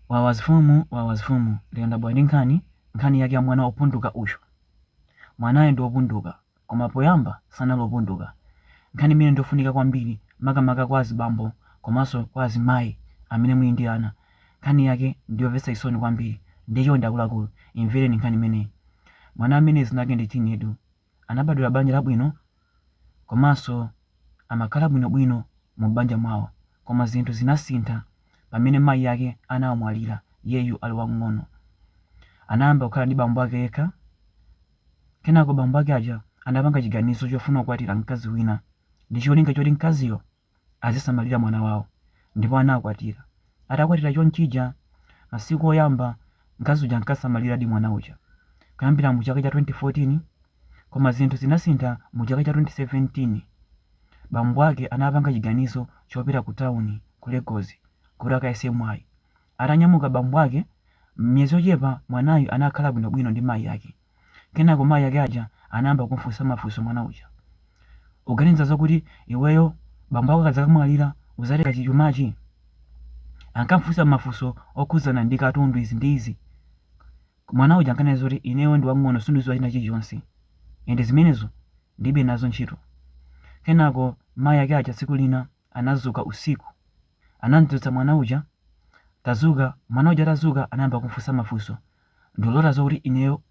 Wawazfumu wawazfumu lero ndabwera ndi nkhani nkhani yake ya mwana opunduka uyu. Mwanayo ndi opunduka koma poyamba sanali opunduka. Nkhani imeneyi ndi yofunika kwambiri makamaka kwa azibambo komanso kwa azimayi amene muli ndi ana. Nkhani yake ndi yomvetsa chisoni kwambiri nde chonde akuluakulu imvereni nkhani imeneyi. Mwana ameneyi dzina lake ndi Chinedu. anabadwira banja labwino komanso amakhala bwinobwino mu m'banja mwawo koma zinthu zinasintha pamene mayi ake anamwalira iyeyu ali wamng'ono. Anayamba kukhala ndi bambo ake yekha. Kenako bambo ake aja anapanga chiganizo chofuna kukwatira mkazi wina ndi cholinga choti mkaziyo azisamalira mwana wawo ndipo anakwatira. Atakwatira chonchija, masiku oyamba mkazi uja ankasamaliradi mwana uja kuyambira mu chaka cha 2014 koma zinthu zinasintha mu chaka cha 2017. Bambo ake anapanga chiganizo chopita ku tawuni ku Lagos kuti akayese mwayi. Atanyamuka bambo ake, m'miyezi yochepa mwanayu anakhala bwinobwino ndi mayi ake. Kenako mayi ake aja anayamba kumufunsa mafunso mwana uja. Uganiza zokuti iweyo bambo ako akadzakamwalira uzatenga chumachi? Ankamufunsa mafunso okhudzana ndi katundu izi ndi izi. Mwana uja ankanena zoti ineyo ndi wang'ono sindidziwa china chilichonse. And zimenezo ndilibe nazo ntchito. Kenako mayi ake aja tsiku lina anadzuka usiku. Anamdzutsa mwana uja, Tadzuka, mwana uja atadzuka anayamba kumfunsa mafunso, Ndimalota zokuti ineyo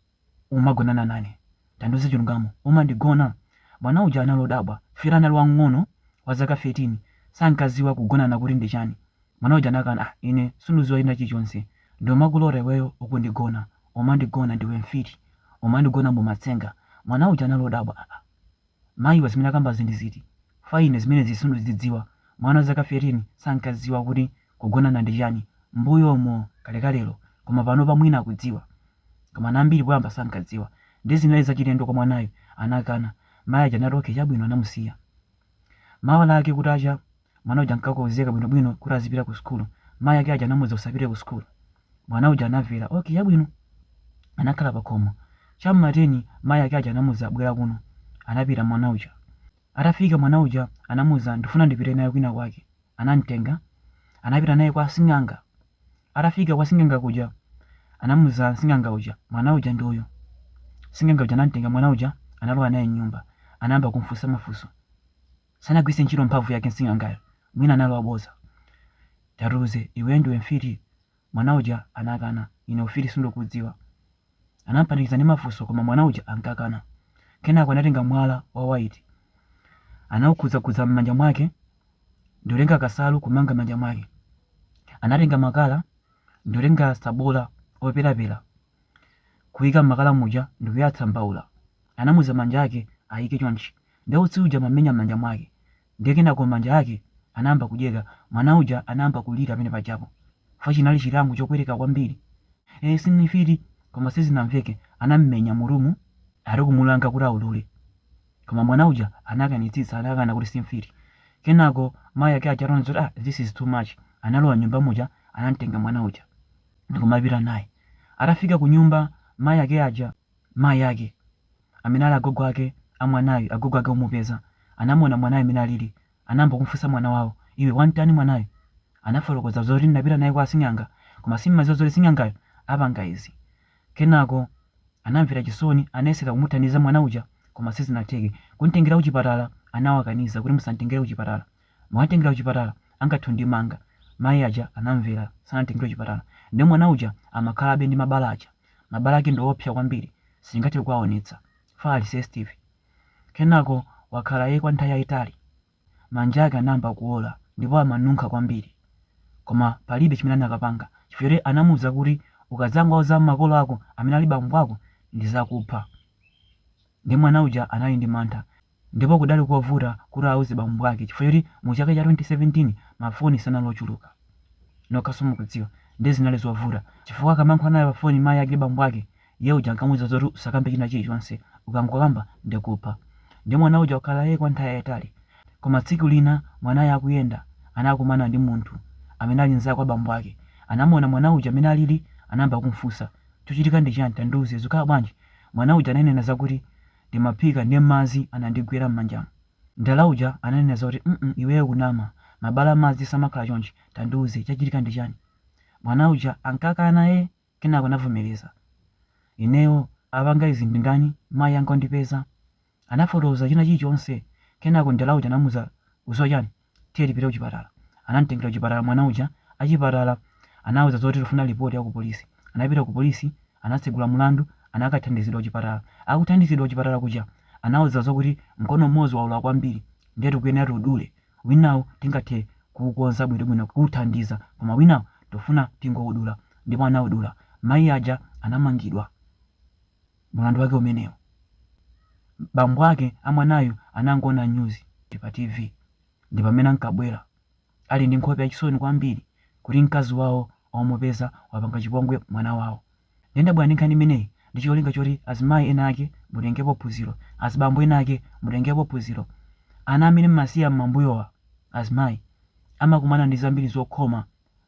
umagonana nane? Tandiuze chilungamo, umandigona? Mwana uja anali odabwa chifukwa anali wamng'ono wa zaka 13 sankadziwa kugonana kuti ndi chani. Mwana uja anakana, ah ine sindidziwa china chilichonse, ndimakulota iweyo ukundigona, umandigona ndiwe mfiti, umandigona mumatsenga. Mwana uja anali odabwa, ah ah. Mayiwa zimene akambazi ndi ziti? Chifukwa ine zimenezi sindikuzidziwa. Mwana wa zaka 13 sankadziwa kuti kugonana ndi chiyani mmbuyomo kalekalelo koma panopa mwina akudziwa. Koma ana ambiri poyamba sankadziwa. Ndiye zinali zachilendo kwa mwanayu. Anakana. Mayi aja anati okay chabwino anamusiya. Mawa lake kutacha. Mwana uja ankakonzeka bwino bwino kuti azipita ku sukulu. Mayi ake aja anamuuza usapite ku sukulu. Mwana uja anamvera, okay chabwino. Anakhala pa khomo. Cha m'ma teni mayi ake aja anamuuza bwera kuno. Anapita mwana uja. Atafika mwana uja anamuuza ndifuna ndipite nawe kwina kwake. Anamtenga. Anapita naye kwa sing'anga. Atafika kwa sing'anga kuja anamuuza sing'anga uja mwana uja ndi uyu. Sing'anga uja anamtenga mwana uja analowa naye m'nyumba. Anayamba kumfunsa mafunso. Sanagwiritse ntchito mphamvu yake sing'angayo mwina anali wabodza. Tatiuze iwe ndiwe mfiti? Mwana uja anakana. Ine ufiti sindikuudziwa. Anamupanikiza ndi mafunso koma mwana uja ankakana. Kenako anatenga mwala wa white. Anaukhudzakhudza m'manja mwake ndikutenga kasalu kumanga manja mwake. Anatenga makala ndikutenga tsabola operapera kuika makala muja ndikuyatsa mbaula. Anamuuza manja ake aike chonchi. Nde utsi uja umamenya mmanja mwake. Nde kenako manja ake anayamba kudyeka. Mwana uja anayamba kulira pamene pajapo. Chifukwa chinali chilango chopweteka kwambiri. Eee sine mfiti koma sizinamveke. Anamumenya mu room alikumulanga kuti aulule. Koma mwana uja anakanitsitsa anakana kuti si mfiti. Kenako mayi ake aja ataona zoti ah this is too much analowa mnyumba muja anamtenga mwana uja. ndikumapita naye. Atafika kunyumba, mayi ake aja, mayi ake, amene ali agogo ake a mwanayu, agogo ake omupeza, anamuona mwanayu mmene alili, anayamba kumufunsa mwana wawo, iwe wam'tani mwanayu? Anafotokoza zoti ndinapita naye kwa asing'anga, koma sindimadziwa zoti sing'angayo apanga izi. Kenako anamvera chisoni, anayesera kumuthandiza mwana uja koma sizinatheke. Kum'tengera kuchipatala anawakaniza kuti musam'tengere kuchipatala. Mukamtengera kuchipatala angathe kundimanga, mayi aja anamvera sanamtengere kuchipatala nde mwana uja amakhalabe ndi mabala aja, mabala ake ndi oopsa kwambiri sindingathe kuwaonetsa, chifukwa ali sensitive. Kenako wakhala eee kwa nthawi yaitali, manja ake anayamba kuwola ndipo amanunkha kwambiri koma palibe chimene akanapanga chifukwa choti anamuuza kuti ukazangowauza makolo ako amene ali bambo ako ndizakupha nde mwana uja anali ndi mantha Ndipo kudali kovuta kuti auze bambo ake chifukwa choti mu chaka cha 2017 ma foni sanali ochuluka. Nokhanso mukudziwa. Ndiye zinali zovuta. Chifukwa akamayankhula naye pa foni mayi ake bambo ake, iye uja ankamuuza zoti usakambe china chilichonse. Ukangokamba ndikupha. Ndiye mwana uja wakhala ee kwa nthawi yayitali. Koma tsiku lina mwanayo akuyenda anakumana ndi munthu amene ali mnzake wa bambo ake. Anamuona mwana uja mmene alili anayamba kumfunsa. Chachitika ndi chani tandiuze zikukhala bwanji? Mwana uja ananena zakuti ndimaphika nde madzi anandigwera mmanjamu mdala uja ananena zoti mm iweyo ukunama mabala amadzi samakhala chonchi tandiuze chachitika ndi chani mwana uja ankakana ee kenako anavomereza ineyo apanga izi ndi ndani mayi anga ondipeza anafotokoza china chilichonse kenako mdala uja anamuuza ukudziwa chani Tiye tipite kuchipatala. Anamtengera kuchipatala mwana uja. Achipatala anawauza zoti tikufuna lipoti ya kupolisi. Anapita kupolisi, anatsegula mlandu, anakathandizidwa kuchipatala. Akuthandizidwa kuchipatala kuja, anawauza zokuti, Mkono umodzi waola kwambiri ndiye tikuyenera tiudule. Winawu tingathe kuukonza bwinobwino, kuuthandiza. Koma winawu tikufuna tingoudula. Ndipo anaudula. Mayi aja anamangidwa. Mulandu wake umenewo? Bambo ake a mwanayu anangoona nyuzi pa TV ndi pamene ankabwera ali ndi nkhope yachisoni kwambiri kuti mkazi wawo wamupeza wapanga chipongwe mwana wawo. Nde ndabwera ndi nkhani imeneyi ndi cholinga choti azimayi ena ake mutengepo phunziro, azibambo ena ake mutengepo phunziro. Ana amene m'masiya m'mambuyowa, azimayi, amakumana ndi zambiri zokhoma.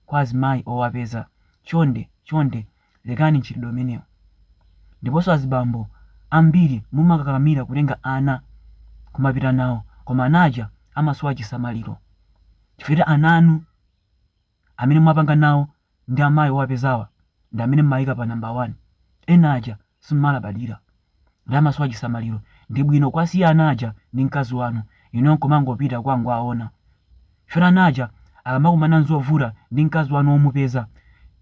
kwa azimayi owapeza chonde chonde lekani mchitidwe umenewo ndiponso azibambo ambiri mumakakamira kutenga ana kumapita nawo koma ana aja amasowa chisamaliro chifukwa choti ana anu amene mwapanga nawo ndi amayi owapezawa ndi amene mumayika pa number 1 ena aja simumalabadira nde amasowa chisamaliro ndi bwino kuwasiya ana aja ndi mkazi wanu inuyo nkumangopita kukangowaona chifukwa ana aja akamakumana nzovuta ndi mkazi wanu womupeza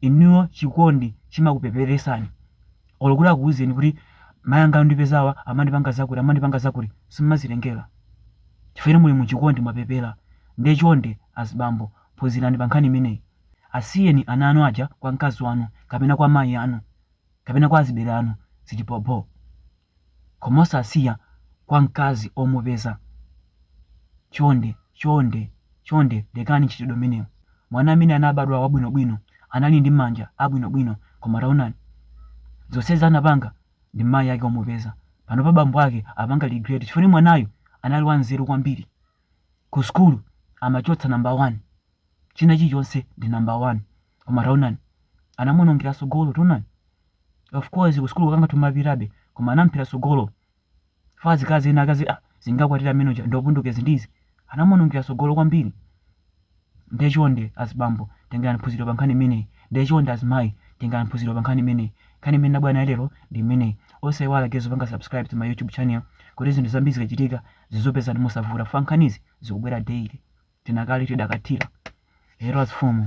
inuyo chikondi chimakupeperesani olo kuti akuuzeni kuti mayi anga andipezawa amandipanga zakuti amandipanga zakuti simumazitengera chifukwa inu muli muchikondi mwapepera nde chonde azibambo phunzirani pa nkhani imeneyi asiyeni ana anu aja kwa mkazi wanu kapena kwa mayi anu kapena kwa azibale anu zili bhobho koma osasiya kwa mkazi omupeza chonde chonde chonde lekani mchitidwe umenewu mwana amene anabadwa wabwino bwino anali ndi manja abwino bwino koma taonani zonsezi anapanga ndi mayi ake omupeza panopa bambo ake apanga regret chifukwa mwanayu anali wanzeru kwambiri ku sukulu amachotsa number 1 china chilichonse ndi number 1 koma taonani anamuonongera tsogolo taonani of course ku school kanga tumapitabe koma anamphera tsogolo fa zikakhala ena akazi ah, zingakwatira amene uja ndopundukezi ndizi anamuonongera tsogolo kwambiri ndiye chonde azibambo tengani phunziro pa nkhani imeneyi ndiye chonde azimayi tengani phunziro pa nkhani imeneyi nkhani imene nabwera nayo lero ndi imeneyi osaiwala guys kupanga subscribe to my youtube channel kuti zinthu zambiri zikachitika zizikupezani mosavuta fa nkhanizi zikubwera daily tinakali tidakathira lero azifumu